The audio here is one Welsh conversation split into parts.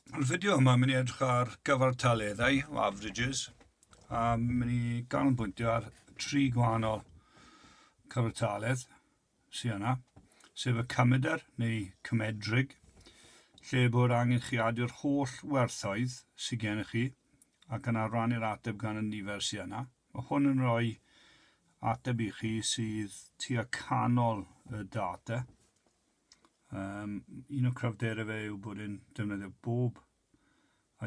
Mae'r fideo yma yn mynd i edrych ar gyfartaleddau o averages a mynd i ganolbwyntio ar tri gwahanol cyfartaledd sydd yna, sef y cymedr neu cymedrig, lle bod angen chi adu'r holl werthoedd sydd gennych chi ac yna rannu'r ateb gan y nifer sydd yna. Mae hwn yn rhoi ateb i chi sydd tua canol y data. Um, un o cryfderau fe yw bod yn defnyddio bob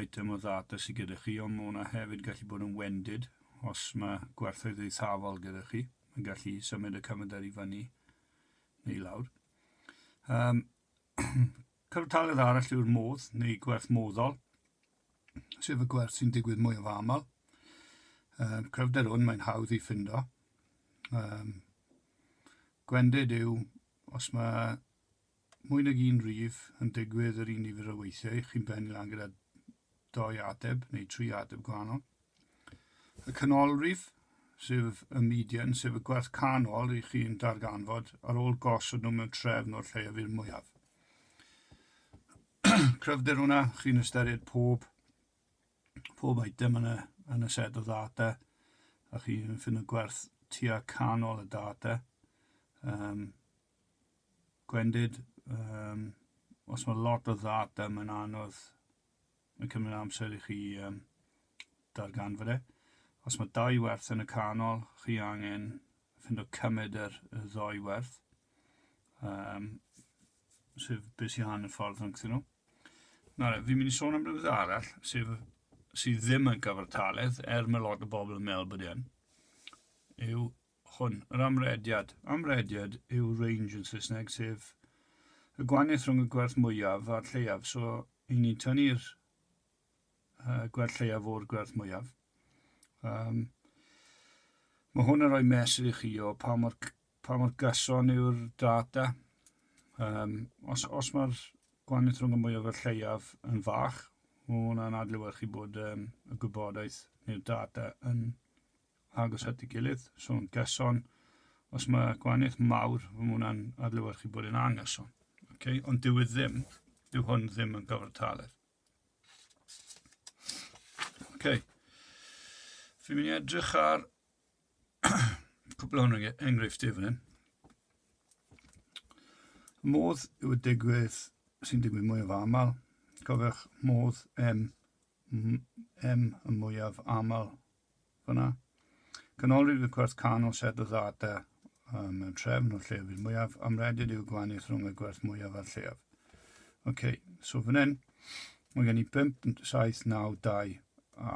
item o ddata sydd gyda chi, ond mae hwnna hefyd gallu bod yn wendid os mae gwerthoedd eithafol gyda chi. Mae'n gallu symud y cyfnodau i fyny neu lawr. Um, Cyfartaledd arall yw'r modd neu gwerth moddol, sef y gwerth sy'n digwydd mwy o aml. Um, cryfder hwn mae'n hawdd i ffindo. Um, gwendid yw Os mae mwy nag un rhif yn digwydd yr un nifer o weithiau, chi'n bennu lan gyda doi ateb neu tri ateb gwahanol. Y canolrif, sef y median, sef y gwerth canol i chi'n darganfod ar ôl gosod nhw mewn trefn o'r lleiaf i'r mwyaf. Cryfder hwnna, chi'n ystyried pob pob item yn y, yn y set o ddata, a chi'n ffind y gwerth tua canol y data. Um, gwendid, um, os mae lot o ddata, mae'n anodd, mae'n cymryd amser i chi um, darganfod e. Os mae dau werth yn y canol, chi angen ffind o cymryd yr, y ddoi werth. Um, sef beth sy'n hanner ffordd rhwngthyn nhw. Nawr, fi'n mynd i sôn am rhywbeth arall, sef sydd ddim yn gyfartaledd, er mae lot o bobl yn meddwl bod e'n, yw hwn, yr amrediad. Amrediad yw range yn Saesneg, sef y gwaniaeth rhwng y gwerth mwyaf a'r lleiaf. So, i ni'n tynnu'r uh, gwerth lleiaf o'r gwerth mwyaf. Um, mae hwn yn rhoi mesur i chi o pa mor pa mor gyson yw'r data. Um, os os mae'r gwahaniaeth rhwng y mwyaf a'r lleiaf yn fach, mae hwnna'n adlewyrchu bod um, y gwybodaeth neu'r data yn agos at ei gilydd, so'n gyson. Os mae gwahaniaeth mawr, mae hwnna'n adlewyrchu bod yn angyson. Okay? Ond dyw e ddim, dyw hwn ddim yn gyfartaledd. Okay. Fi'n mynd i edrych ar Cwpl o'n enghreifftiau fan hyn. Modd yw y digwydd sy'n digwydd mwyaf aml. Cofiwch modd M, M y mwyaf aml fyna. Canolrif y gwerth canol set o ddata um, mewn trefn o'r llefydd mwyaf. Amredid yw gwaniaeth rhwng y gwerth mwyaf a'r lleaf. OK, so fan hyn, mae gen i 5, 7, 9, 2 a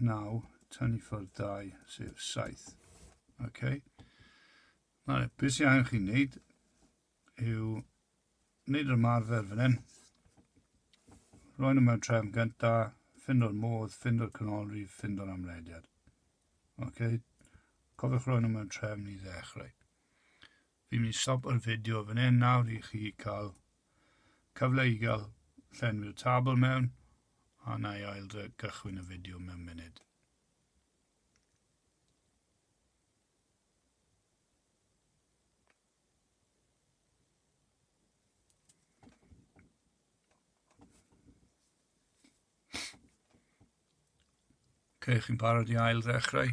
9, tynnu ffwrdd 2, sef 7. Okay. Nawr, beth sy'n angen chi'n neud yw wneud yr ymarfer fan hyn. Rwy'n nhw mewn trefn gynta, ffind o'r modd, ffind o'r canolrif, ffind o'r amlediad. Okay. Cofiwch rwy'n nhw mewn trefn i ddechrau. Fi'n mynd i stopo'r fideo fan hyn nawr i chi cael cyfle i gael llenwi'r tabl mewn a na i ail gychwyn y fideo mewn munud. Creu chi'n parod i ail ddechrau.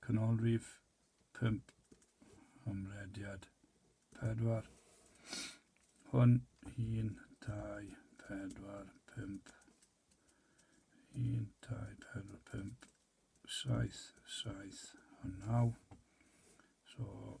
Canolrif pump, hymrediad pedwar. Hwn, un, dau, pedwar, pump. Un, dau, pedwar, pump, saith, saith, a naw. So,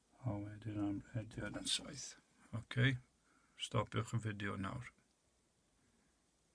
A wedyn am ediad yn saith. Oce, stopiwch y fideo nawr.